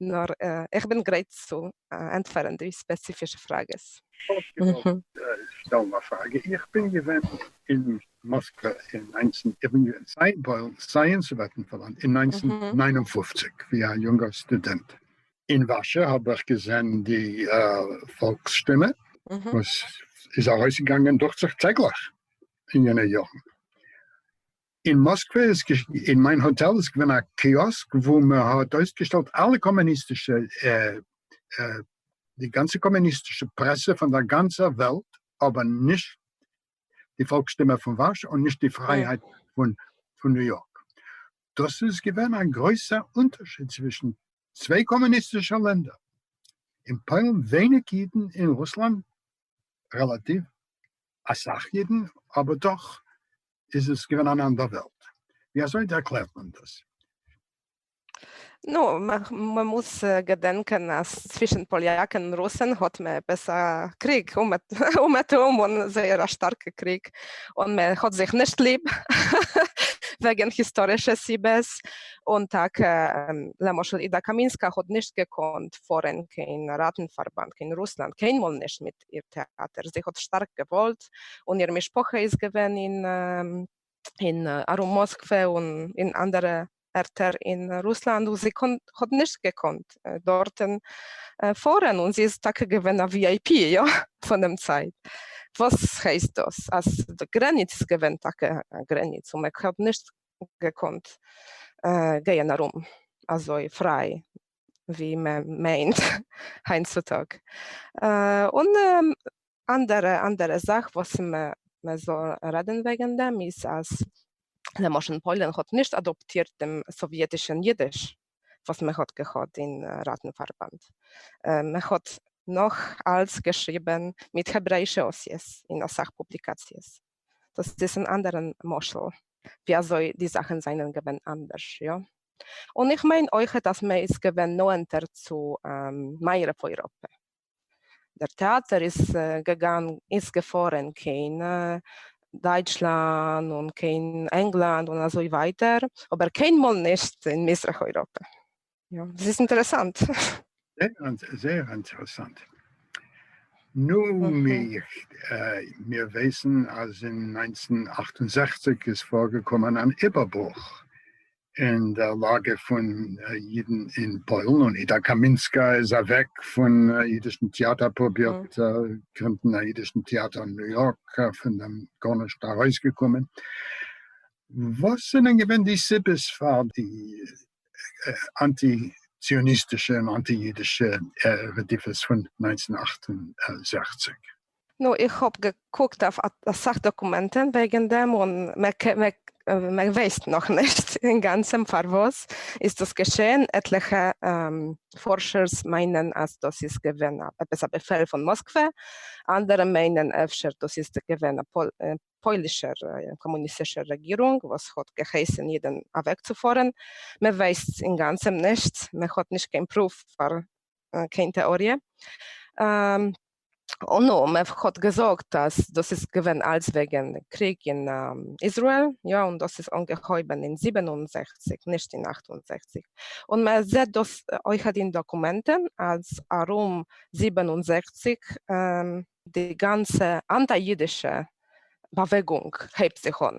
S6: נאר איך בין גרייט צו ענטפערן די ספעציפישע פראגעס. איך
S4: וואלט געוואלט שטעלן א פראגע, איך בין געווען אין מאסקע אין ניינצן איבער סייענס וועטנפאלאנד אין ניינצן נײַן און פֿופֿציק ווי א יונגער סטודענט אין ווארשע האב איך געזען די פאלקס שטימע וואס איז ארויסגעגאנגען דוכט זיך טעגליך אין יענע יארן. אין מאסקווע איז אין מיין האטעל איז געווען א קיאסק וואו מען האט אויסגעשטעלט אלע קאמוניסטישע די גאנצע קאמוניסטישע פרעסע פון דער גאנצער וועלט אבער נישט די פאלק שטימע פון ווארשע און נישט די פרייהייט פון פון ניו יארק. דאס איז געווען א גרויסער אונטערשיד צווישן צוויי קאמוניסטישע לענדער, אין פוילן ווייניג אידן אין רוסלאנד רעלאטיוו אסאך אידן, אבער דאך איז עס געווען אן אנדער וועלט. ווי אזוי ערקלערט מען דאס? נו,
S6: מ'מוז געדענקען אז צווישן פאליאקן און רוסן האט מען עפעס א קריג, אומעטום, און זייער א שטארקע קריג, און מען האט זיך נישט ליב וועגן היסטארישע סיבות, און טאקע למשל אידה קאמינסקא האט נישט געקאנט פארן קיין ראטנפארבאנד קיין רוסלאנד קיינמאל נישט מיט איר טעאטער, זי האט שטארק געוואלט, און איר משפחה איז געווען אין אין ארום מאסקווע און אין אנדערע ערטער אין רוסלאנד וואו זי האט נישט געקאנט דארטן פארן און זי איז טאקע געווען א ווי איי פי יא פונעם צייט, וואס הייסט דאס אז די גרעניץ איז געווען טאקע א גרעניץ און מען האט נישט געקאנט גייען ארום אזוי פריי ווי מען מיינט היינט צוטאג און. אנדערע אנדערע זאך וואס מען זאל רעדן וועגן דעם איז אז למשל פוילן האט נישט אדאפטירט דעם סאוויעטישן אידיש וואס מען האט געהאט אין ראטנפארבאנד, מען האט נאך אלץ געשריבן מיט העברעאישע אותיות אין אסאך פובליקאציעס, דאס איז אן אנדערע משל ווי אזוי די זאכן זענען געווען אנדערש, יא? און איך מיין אויכעט אז מען איז געווען נאענטער צו מערב אויראפע. דער טעאַטער איז געגאַנ איז געפֿאָרען קיין דייטשלאַנ און קיין ענגלאַנד און אַזוי ווייטער, אָבער קיין מאָל נישט אין מיזרח-אויראָפּע. יא, דאָס איז אינטערעסאַנט. זעהר
S4: אינטערעסאַנט. נו, מיר ווייסן אַז אין נײַנצן אַכט און זעכציק איז פֿאָרגעקומען אַן איבערברוך אין דער לאַגע פֿון ייִדן אין פּוילן, און איטאַ קאַמינסקאַ איז אַוועק פֿון ייִדישן טעאַטער, פּרובירט גרינדן אַ ייִדישן טעאַטער אין ניו-יאָרק, פֿון דעם גאָרנישט אַרויסגעקומען. וואָס זענען געווען די סיבות פֿאַר די אַנטי-ציוניסטישע און אַנטי-ייִדישע רדיפֿות פֿון נײַנצן אַכט און זעכציק? נו
S6: איך האב געקוקט אויף אסאך דאקומענטען וועגען דעם און מען ווייסט נאך נישט אינגאנצען פארוואס איז דאס געשעהן, עטליכע פארשערס מיינען אז דאס איז געווען עפעס א באפעל פון מאסקווע, אנדערע מיינען אפשר דאס איז געווען א פוילישער קאמוניסטישער רעגירונג וואס האט געהייסען אידען אוועקצופארען, מען ווייסט אינגאנצען נישט, מען האט נישט קיין פרוף פאר קיין טעאריע. נו, מען האט געזאגט אז דאס איז געווען אלץ וועגן קריג אין איזראעל, יא, און דאס איז אנגעהויבן אין זיבן און זעכציק, נישט אין אַכט און זעכציק, און מען זעט דאס אויכעט אין דאקומענטן אז ארום זיבן און זעכציק די גאנצע אנטי-אידישע באוועגונג הייבט זיך אן.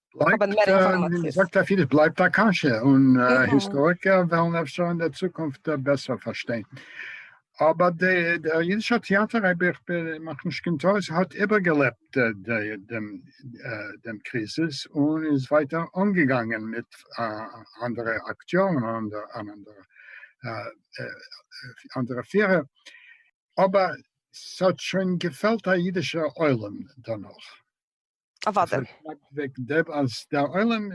S6: בלייבט האבן מער א, ווי מען אינפארמאציעס. זאגט אויף אידיש, בלייבט א
S4: קשיא, און היסטאריקער וועלן אפשר אין דער צוקונפט בעסער פארשטיין. אבער דער אידישער טעאטער, אויב איך מאך נישט קיין טעות, האט איבערגעלעבט דעם קריזיס און איז ווייטער אנגעגאנגען מיט אנדערע אקטיארן און אנדערע פירער, אבער ס'האט שוין געפעלט א אידישער עולם דערנאך. אוואדע.
S6: עס שרייבט וועגן דעם
S4: אז דער עולם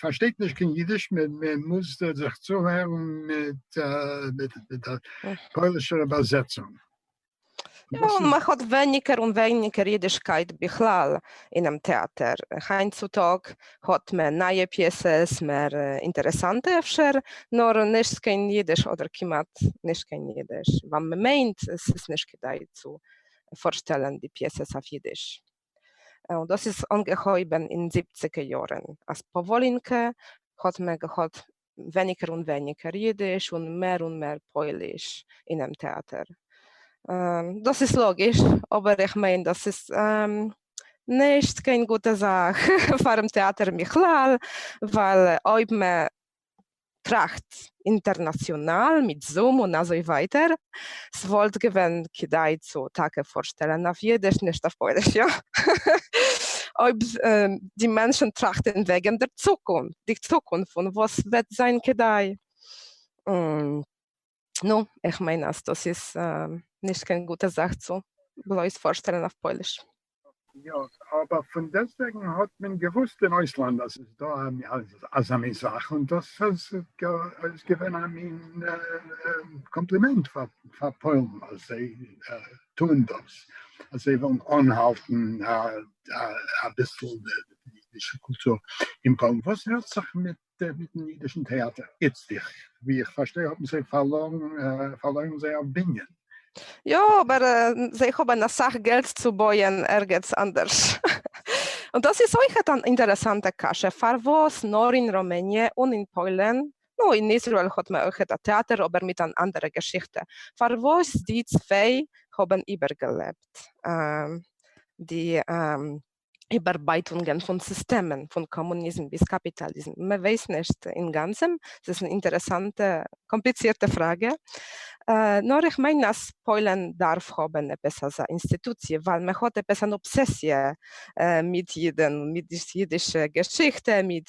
S4: פארשטייט נישט קיין אידיש, מען מוז זיך צוהערן מיט א פוילישער איבערזעצונג.
S6: יא, און מען האט ווייניגער און ווייניגער אידישקייט בכלל אינעם טעאטער. היינט צו טאג האט מען נייע פיעסעס, מער אינטערעסאנטע אפשר, נאר נישט קיין אידיש אדער כמעט נישט קיין אידיש, ווייל מען מיינט עס איז נישט כדאי צו פארשטעלן די פיעסעס אויף אידיש, און דאס איז אנגעהויבן אין זיבציגע יארן אז פאוואלינקע האט מען געהאט ווייניגער און ווייניגער אידיש און מער און מער פויליש אינעם טעאטער, דאס איז לאגיש, אבער איך מיין דאס איז נישט קיין גוטע זאך פארן טעאטער בכלל, ווייל אויב מען טראכטס אינטערנאציאנאל מיט זום און אזוי ווייטער, ס'וואלט געווען כדאי צו טאקע פארשטעלן אויף אידיש נישט אויף פויליש יא? אויב די מענטשן טראכטן וועגן דער צוקונפט, די צוקונפט פון וואס וועט זיין כדאי. נו, איך מיין אז דאס איז נישט קיין גוטע זאך צו בלויז פארשטעלן אויף פויליש. יא,
S4: אבער פון דעסטוועגן האט מען געוואוסט אין אויסלאנד אז ס'איז דא אזא מין זאך, און דאס איז געווען א מין קאמפלימענט פאר פוילן אז זיי טוען דאס, אז זיי ווילן אנהאלטן אביסל די אידישע קולטור אין פוילן. וואס הערט זיך מיט גערעדט מיטן אידישן טעאטער איצטיך, ווי איך פארשטיי האבן זיי פארלוירן זייער בנין. יא,
S6: אבער זיי האבן אסאך געלט צו בויען ערגעץ אנדערש. און דאס איז אויכעט אן אינטערעסאנטע קשיא, פארוואס נאר אין ראמעניע און אין פוילן, נו, אין איזראעל האט מען אויכעט א טעאטער אבער מיט אן אנדערע געשיכטע, פארוואס די צוויי האבן איבערגעלעבט די איבערבייטונגען פון סיסטעמען, פון קאמוניזם ביז קאפיטאליזם, מען ווייסט נישט אינגאנצען, עס איז אן אינטערעסאנטע קאמפליצירטע פראגע, נאר איך מיין אז פוילען דארף האבען עפעס אזא אינסטיטוציע, ווייל מען האט עפעס אן אבסעסיע מיט אידען, מיט די אידישע געשיכטע, מיט.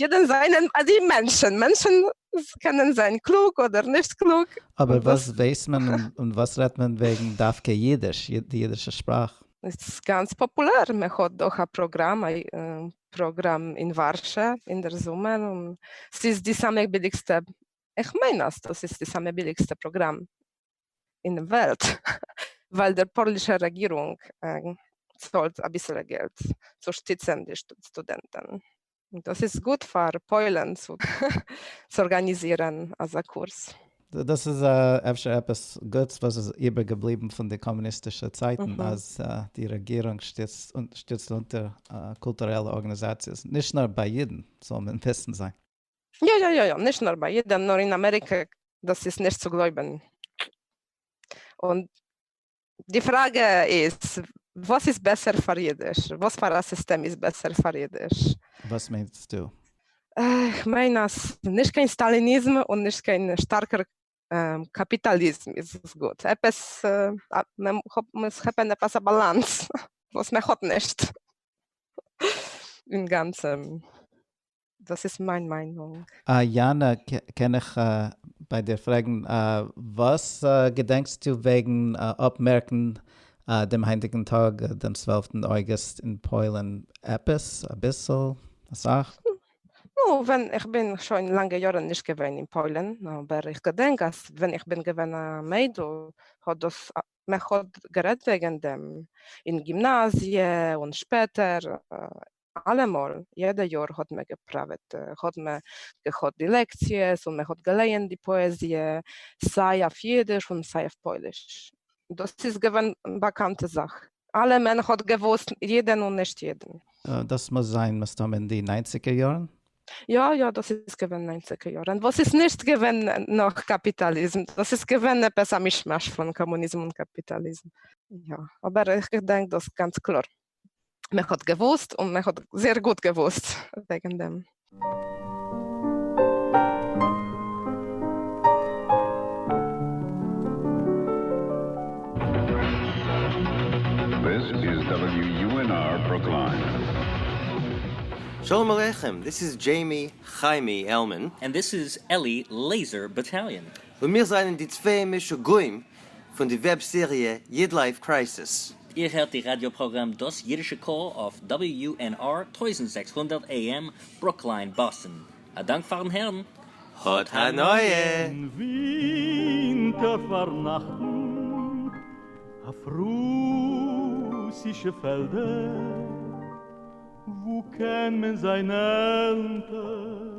S6: יודן זענען אזי מענטשן, מענטשן קענען זיין קלוג אדער נישט קלוג. אבער וואס ווייסט
S3: מען און וואס רעדט מען וועגן דווקא אידיש, די אידישע שפראך? ס'איז גאנץ
S6: פאפולער, מען האט דאך א פראגראם, א פראגראם אין ווארשע אין דער זומער, און ס'איז די סאמע ביליגסטע, איך מיין אז דאס איז די סאמע ביליגסטע פראגראם אין דעם וועלט, ווייל דער פאלישער רעגירונג צאלט אביסעלע געלט צו שטיצען די סטודענטען. דאס איז גוט פאר פוילען צו ארגאניזירען אזא קורס. דאס איז
S3: אפשר עפעס גוטס וואס איז איבער געבליבען פון די קאמוניסטישע צייטען אז די רעגירונג שטיצט אונטער קולטורעלע ארגאניזאציעס, נישט נאר ביי אידען זאל מען וויסען זיי. יא יא יא יא,
S6: נישט נאר ביי אידען נאר אין אמעריקע דאס איז נישט צו גלויבען, און די פראגע איז וואס איז בעסער פאר אידיש? וואס פאר א סיסטעם איז בעסער פאר אידיש? וואס מיינסטו? איך מיין
S3: אז
S6: נישט קיין סטאליניזם און נישט קיין שטארקער קאפיטאליזם איז גוט, עפעס מען מוז כאפען עפעס א באלאנס וואס מען האט נישט אינגאנצען. דאס איז מיין מיינונג. אה יענע
S3: קען איך ביי דיר פרעגן. וואס געדענקסטו וועגן אפמערקן דעם היינטיגן טאג דעם צוועלפטן אוגוסט אין פוילן? עפעס? אביסל? אסאך? נו, ווען
S6: איך בין שוין לאנגע יארן נישט געווען אין פוילן, אבער איך געדענק אז ווען איך בין געווען א מיידל האט דאס מען האט גערעדט וועגן דעם אין גימנאזיע און שפעטער אלעמאל, יעדע יאר האט מען געפראוועט, האט מען געהאט די לעקציעס און מען האט געלייענט די פאעזיע, סיי אויף אידיש און סיי אויף פויליש. דאס איז געווען באקאנטע זאך, אלע מען האט געוואוסט יעדן און נישט יעדן. דאס מוז זיין
S3: מסתם אין די ניינציגער יארן? יא יא, דאס
S6: איז געווען ניינציגער יארן, וואס איז נישט געווען נאך קאפיטאליזם, דאס איז געווען עפעס א מישמאש פון קאמוניזם און קאפיטאליזם. יא, אבער איך געדענק דאס גאנץ קלאר. מען האט געוואוסט און מען האט זייער גוט געוואוסט וועגן דעם.
S7: שלום
S8: עליכם, דיס איז דזשעימי חיימי עלמען. און דיס איז עלי
S9: לעיזער באטאליאן. און מיר זענען די
S8: צוויי משוגעים. פון די וועב סעריע איד לייף קרייסיס. איר הערט די ראדיא
S9: פראגראם דאס אידישע קול אויף WUNR טויזנט זעקס הונדערט AM ברוקליין באסטן. א דאנק פארן הערן. האט הנאה!
S8: אין ווינטער
S10: פארנאכטן אויף רוסישע פעלדער וואו קען מען זיי נעלם טער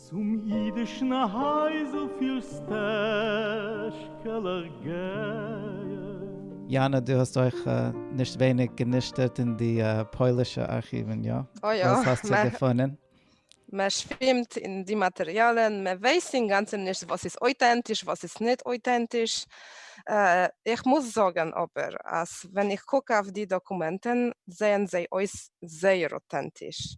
S10: צום אידישן הייזל פֿיר סטעשקעלעך גייען. יאנא,
S3: דו האסט אויך נישט ווייניג גענישטערט אין די פוילישע ארכיוון, יא? אוי יא. וואס האסטו
S6: געפונען?
S3: מען
S6: שווימט אין די מאטריאלן, מען ווייסט אינגאנצן נישט וואס איז אויטענטיש וואס איז נישט אויטענטיש. איך מוז זאגן אבער אז ווען איך קוק אויף די דאקומענטן זעען זיי אויס זייער אוטענטיש,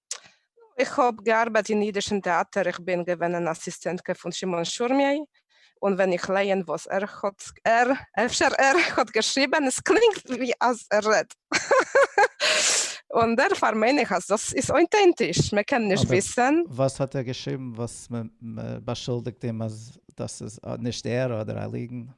S6: איך האב געארבייט אין אידישן טעאטער, איך בין געווען אן אסיסטענטקע פון שמעון שורמי', און ווען איך לייען וואס ער האט, ער, אפשר ער, האט געשריבען, עס קלינגט ווי אז ער רעדט און דערפאר מיין איך אז דאס איז אוינטענטיש, מען קען נישט וויסען. וואס האט ער געשריבן
S3: וואס מען באשולדיגט אים אז דאס איז נישט ער אדער א ליגן?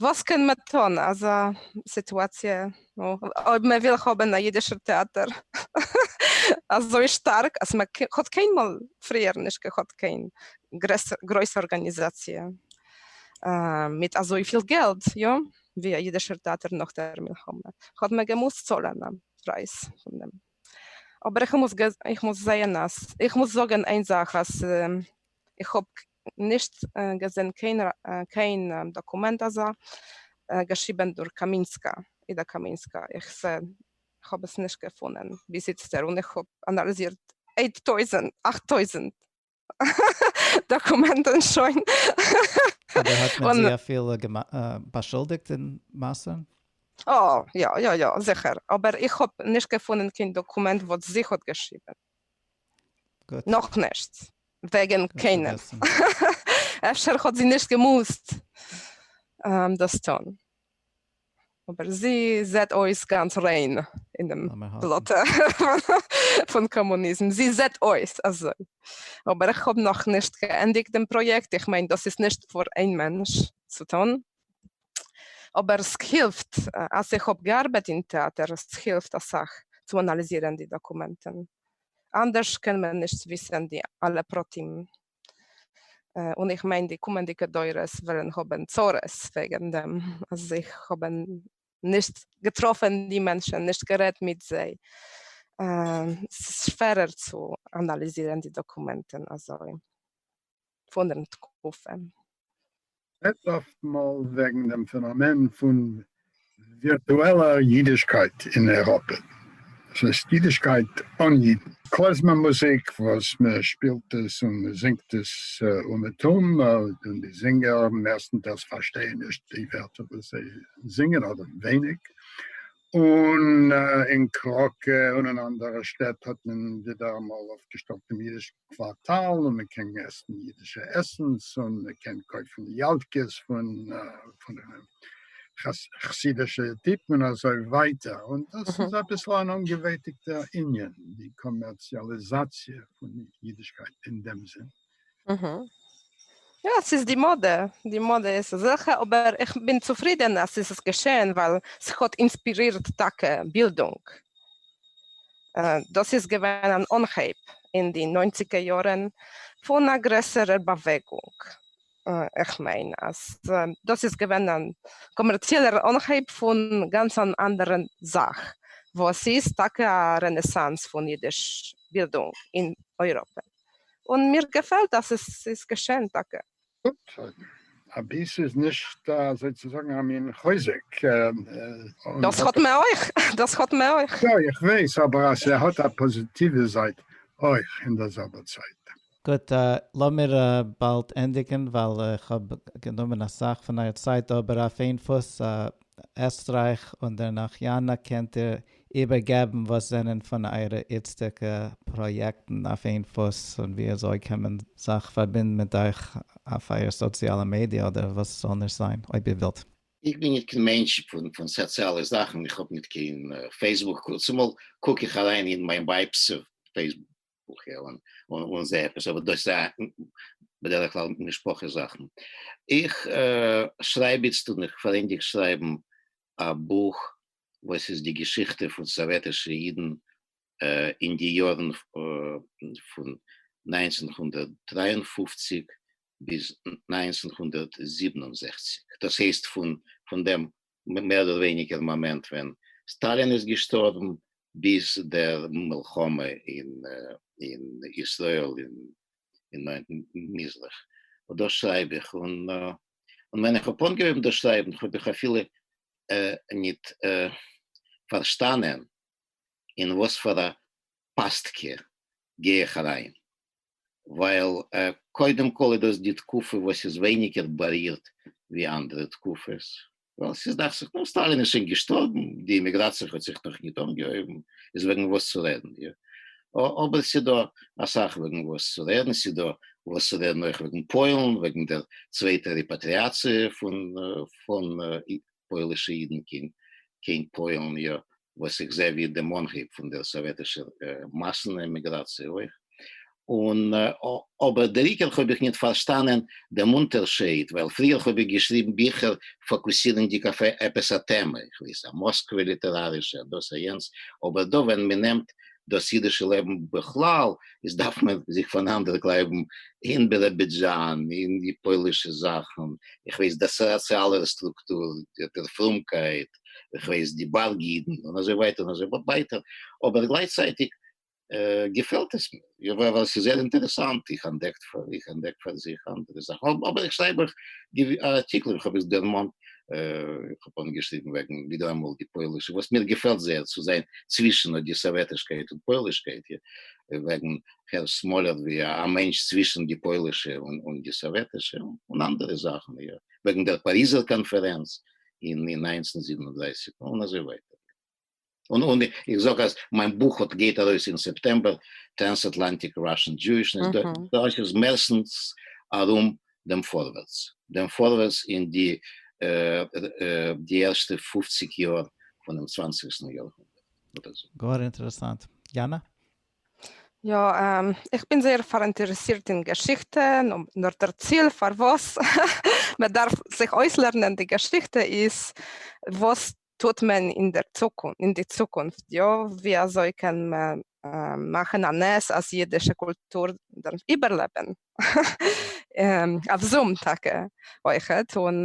S3: וואס קען
S6: מען טון אזא סיטואציע אויב מען וויל האבן א אידישער טעאטער אזוי שטארק אז מען האט קיינמאל פריער נישט געהאט קיין גרויסע ארגאניזאציע מיט אזויפיל געלט יא ווי א אידישער טעאטער נאך דער מלחמה האט מען געמוזט צאלען א פרייז פון דעם אבער איך מוז זעהן אז איך מוז זאגען איין זאך אז איך האב נישט געזען קיין דאקומענט אזא, געשריבען דורך קאמינסקא, אידא קאמינסקא, איך זע איך האב עס נישט געפונען ביז איצטער און איך האב אנאלעזירט אייט טויזענט, אכט טויזענט, דאקומענטען שוין.
S3: אבער האט מען זי אפילו באשולדיגט אין מעשה? אה
S6: יא יא יא זיכער, אבער איך האב נישט געפונען קיין דאקומענט וואס זי האט געשריבען.
S3: נאכנישט
S6: וועגן קיינעם,
S3: אפשר
S6: האט זי נישט געמוזט דאס טון, אבער זי זעט אויס גאנץ ריין אין דעם בלאטע פון קאמוניזם, זי זעט אויס אזוי. אבער איך האב נאכנישט געענדיגט דעם פראיעקט, איך מיין דאס איז נישט פאר איין מענטש צו טון, אבער ס'הילפט אז איך האב געארבעט אין טעאטער, ס'הילפט אסאך צו אנאליזירען די דאקומענטען, אנדערש קען מען נישט וויסען די אלע פרטים, און איך מיין די קומענדיגע דורות וועלען האבען צרות וועגען דעם אז איך האבען נישט געטראפען די מענטשען, נישט גערעדט מיט זיי, ס'שווערער צו אנאליזירען די דאקומענטען אזוי. פון דעם תקופה. רעדט אפטמאל
S4: וועגן דעם פענאמען פון ווירטועלער אידישקייט אין אייראפע, דאס הייסט אידישקייט אן אידן. קלעזמער מוזיק וואס מען שפילט עס און מען זינגט עס אומעטום, און די זינגער מערסטנטעלס פארשטייען נישט די ווערטער וואס זיי זינגען, אדער ווייניג, און אין קראקע און אין אנדערע שטעט האט מען ווידעראמאל אויפגעשטעלט דעם אידישקייט. קווארטאל און מען קען עסן אידישע עסנס און מען קען קויפן יאלקעס פון חסידישע טיפן און אזוי ווייטער, און דאס איז אביסל אן אנגעוועטיגטע ענין, די קאמערציאליזאציע פון אידישקייט אין דעם זין.
S6: יא, ס'איז די מאדע, די מאדע איז אזעלכע, אבער איך בין צופרידען אז ס'איז געשען ווייל ס'האט אינספירירט טאקע בילדונג. דאס איז געווען אן אנהייב אין די נײַנציקער יארן פון א גרעסערער באוועגונג, איך מיין אז דאס איז געווען א קאמערציעלער אנהייב פון גאנץ אן אנדערע זאך וואס איז טאקע א רענעסאנס פון אידיש בילדונג אין אייראפע, און מיר געפעלט אז עס איז געשען טאקע.
S4: א ביס איז נישט אזוי צו זאגן א מין חוזק.
S6: דאס האט מען אויך, דאס האט מען אויך. יא איך
S4: ווייס, אבער אז ס'האט א פאזיטיווע זייט אויך אין דער זעלבער צייט. גוט,
S3: לאמיר באלד ענדיגן ווייל איך האב גענומען אסאך פון אייער צייט, אבער אויף איין פוס, עסטרייך און דערנאך יאנא קענט איר איבערגעבן וואס זענען פון אייערע איצטיגע פראיעקטן אויף איין פוס און ווי אזוי קען מען זיך פארבינדן מיט אייך אויף אייער סאציאלע מידיע אדער וואס ס'זאל נישט זיין אויב איר ווילט. איך בין ניט קיין
S5: מענטש פון פון סאציאלע זאכן איך האב ניט קיין פעיסבוק צומאל קוק איך אריין אין מיין ווייב'ס פעיסבוק און און זע עפעס אבער דאס איז בדרך כלל משפחה זאכן איך שרייב איצט און איך פארענדיג שרייבן א בוך וואס איז די געשיכטע פון סאוועטישע אידן אין די יארן פון נײַנצן הונדערט דרײַ און פֿופֿציק ביז נײַנצן הונדערט זיבן און זעכציק, דאס הייסט פון דעם מער אדער ווייניגער מאמענט ווען סטאלין איז געשטארבן ביז דער מלחמה אין ישראל אין נייעם מזרח, דאס שרייב איך און און ווען איך האב אנגעהויבן דאס שרייבן האב איך אפילו ניט פארשטאנען אין וואס פאר א פאסטקע גיי איך אריין, ווייל קודם כל איז דאס די תקופה וואס איז ווייניגער בארירט ווי אנדערע תקופות, ווייל ס'איז דאכט זיך נאר סטאלין איז שוין געשטארבן, די אימיגראציע האט זיך נאך ניט אנגעהויבן, איז וועגן וואס צו רעדן דיר. אבער ס'איז דא אסאך וועגן וואס צו רעדן, ס'איז דא וואס צו רעדן אויך וועגן פוילן, וועגן דער צווייטער ריפאטריאציע פון פון פוילישע אידן קיין פוילן, יא, וואס איך זעה ווי דעם אנהייב פון דער סאוועטישער מאסן עמיגראציע אויך, און אבער דער עיקר האב איך ניט פארשטאנען דעם אונטערשייד, ווייל פריער האב איך געשריבן ביכער פאקוסירנדיק אויף עפעס א טעמע, איך ווייס, א מאסקווע ליטערארישע, א דאס א יענץ, אבער דא ווען מען נעמט דאס אידישע לעבן בכלל, איז דארף מען זיך פאנאנדערגלייבן אין ביראבידזשאן, אין די פוילישע זאכן, איך ווייס, די סאציאלער סטרוקטור, דער פרומקייט, געמאכט, איך ווייס די בארג אידן און אזוי ווייטער און אזוי ווייטער, אבער גלייכצייטיג געפעלט עס מיר ווייל עס איז זייער אינטערעסאנט, איך אנדעקט איך אנדעק פאר זיך אנדערע זאכן, אבער איך שרייב אויך ארטיקלען, איך האב עס דערמאנט, איך האב אנגעשריבן וועגן ווידעראמאל די פוילישע וואס מיר געפעלט זייער צו זיין צווישן די סאוועטישקייט און פוילישקייט, וועגן הערש סמאלער ווי א מענטש צווישן די פוילישע און די סאוועטישע, און אנדערע זאכן, וועגן דער פאריזער קאנפערענץ, אין אין נײַנצן זיבן און דרײַסיק און אזוי ווייטער און און איך זאג אז מיין בוך האט גייט ארויס אין סעפטעמבער טרענסאטלאנטיק ראשען דזשואישנעס דאס איז מערסטנס ארום דעם פארווערטס דעם פארווערטס אין די די ערשטע פֿופֿציק יאר פונעם צוואנציגסטן יאר הונדערט. גאר אינטערעסאנט.
S3: יאנא? יא,
S6: איך בין זייער פאראינטערעסירט אין געשיכטע, נאר דער ציל פארוואס מען דארף זיך אויסלערנען די געשיכטע איז וואס טוט מען אין דער צוקונפט, אין די צוקונפט, יא, ווי אזוי קען מען מאכן א נס אז אידישע קולטור זאל איבערלעבן, אויף זום טאקע אויכעט, און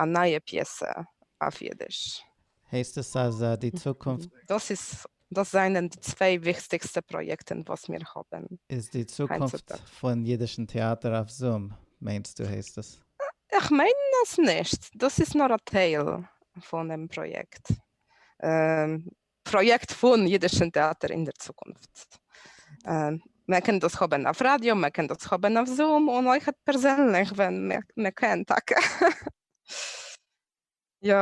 S6: א נייע פיעסע אויף אידיש. הייסט עס אז
S3: די צוקונפט. דאס איז דאס
S6: זענען די צוויי וויכטיגסטע פראיעקטען וואס מיר האבען. איז די צוקונפט
S3: פון אידישן טעאטער אויף זום מיינסטו הייסט עס? איך מיין
S6: אז נישט, דאס איז נאר א טייל פונעם פראיעקט. פראיעקט פון אידישן טעאטער אין דער צוקונפט. מען קען דאס האבן אויף ראדיא, מען קען דאס האבן אויף זום, און אויך פערזענליך ווען מען קען טאקע. יא,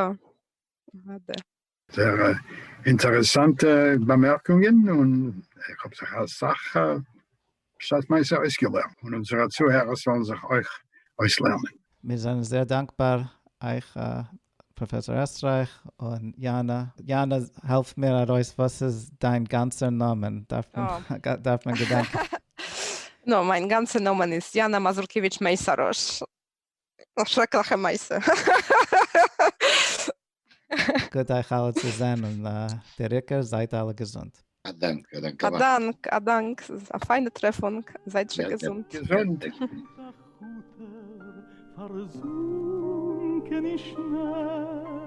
S6: אדער. זייער
S4: אינטערעסאנטע באמערקונגען, און איך האב זיך אסאך שטארק נייס אויסגעלערנט, און אונזערע צוהערער זאלן זיך אויך אויסלערנען. מיר זענען זייער
S3: דאנקבאר אייך פראפעסאר עסטרייך און יאנא. יאנא העלף מיר ארויס וואס איז דיין גאנצער נאמען דארף מען געדענקען. נו
S6: מיין גאנצע נאמען איז יאנא מאזורקעוויטש מעיסארוש. א שרעקליכע מעשה.
S3: גוט אייך אלע צו זען און דער עיקר זייט אלע געזונט. א דאנק, א
S5: דאנק אליין. א דאנק, א
S6: דאנק, ס'איז א פיינע טרעפונג, זייט שוין געזונט. געזונט.
S10: פארזונקען אין שניי.